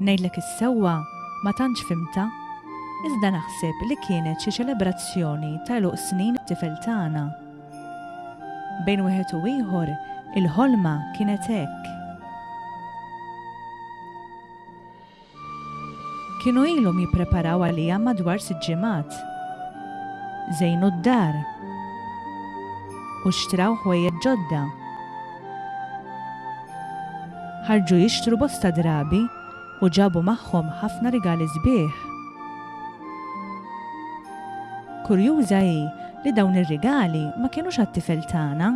Ngħidlek is-sewwa, ma tantx fhimtha, iżda naħseb li kienet xi ċelebrazzjoni ta' għeluq snin it-tifel tagħna. Bejn wieħed u ieħor, il-ħolma kienet hekk. Kienu ilhom jippreparaw għaliha madwar sitt ġimgħat. Żejnu d-dar. U xtraw ħwejjeġ ġodda. Ħarġu jixtru bosta drabi u ġabu magħhom ħafna rigali sbieħ. Kurjuża hi li dawn ir-rigali ma kinux għat-tifel tagħna.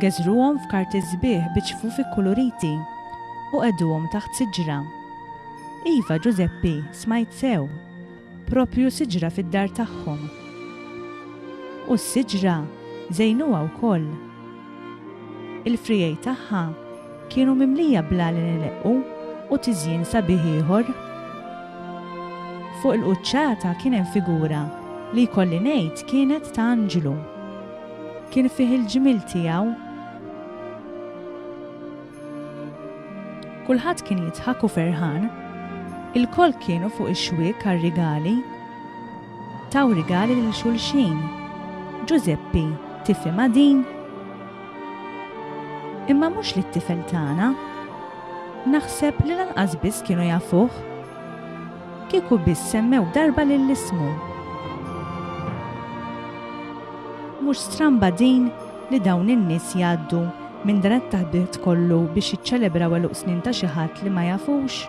Geżruhom f'karti sbieħ bi ċfufi kkuluriti u qegħduhom taħt siġra. Iva, Ġużeppi, smajt sew! proprju siġra fid-dar tagħhom. U s-siġra żejnuha wkoll. Il-frijej tagħha kienu mimlija bl-għalin ileqqu u tiżjin sabiħ ieħor. Fuq il-quċċata kien hemm figura li jkolli ngħid kienet ta' anġlu. Kien fih il-ġmiel tiegħu Kulħadd kien jidħak u ferħan. Ilkoll kienu fuq ix-xwiek għar-rigali. Taw rigali lil xulxin. Ġużeppi, tifhimha din? Imma mhux lit-tifel tagħna. Naħseb li lanqas biss kienu jafuh. Kieku biss semmew darba lill-ismu. Mhux stramba din? li dawn in-nies jgħaddu minn dan it-taħdiet kollu biex jiċċelebraw għeluq snin ta' xi ħadd li ma jafux?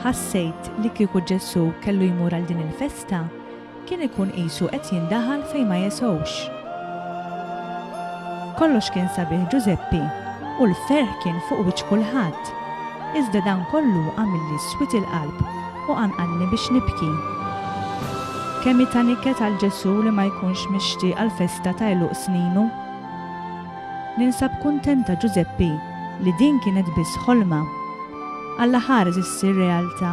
Ħassejt li kieku Ġesù kellu jmur għal din il-festa, kien ikun qisu qed jindaħal fejn ma jesgħux. Kollox kien sabiħ Ġużeppi u l-ferħ kien fuq wiċċ kulħadd, iżda dan kollu għamilli swied il-qalb. U qanqalni biex nibki. Kemm hi ta' niket għal Ġesù li ma jkunx mixtieq għall-festa ta' għeluq sninu. Ninsab kuntenta Ġużeppi li din kienet biss ħolma. Alla ħares issir realtà.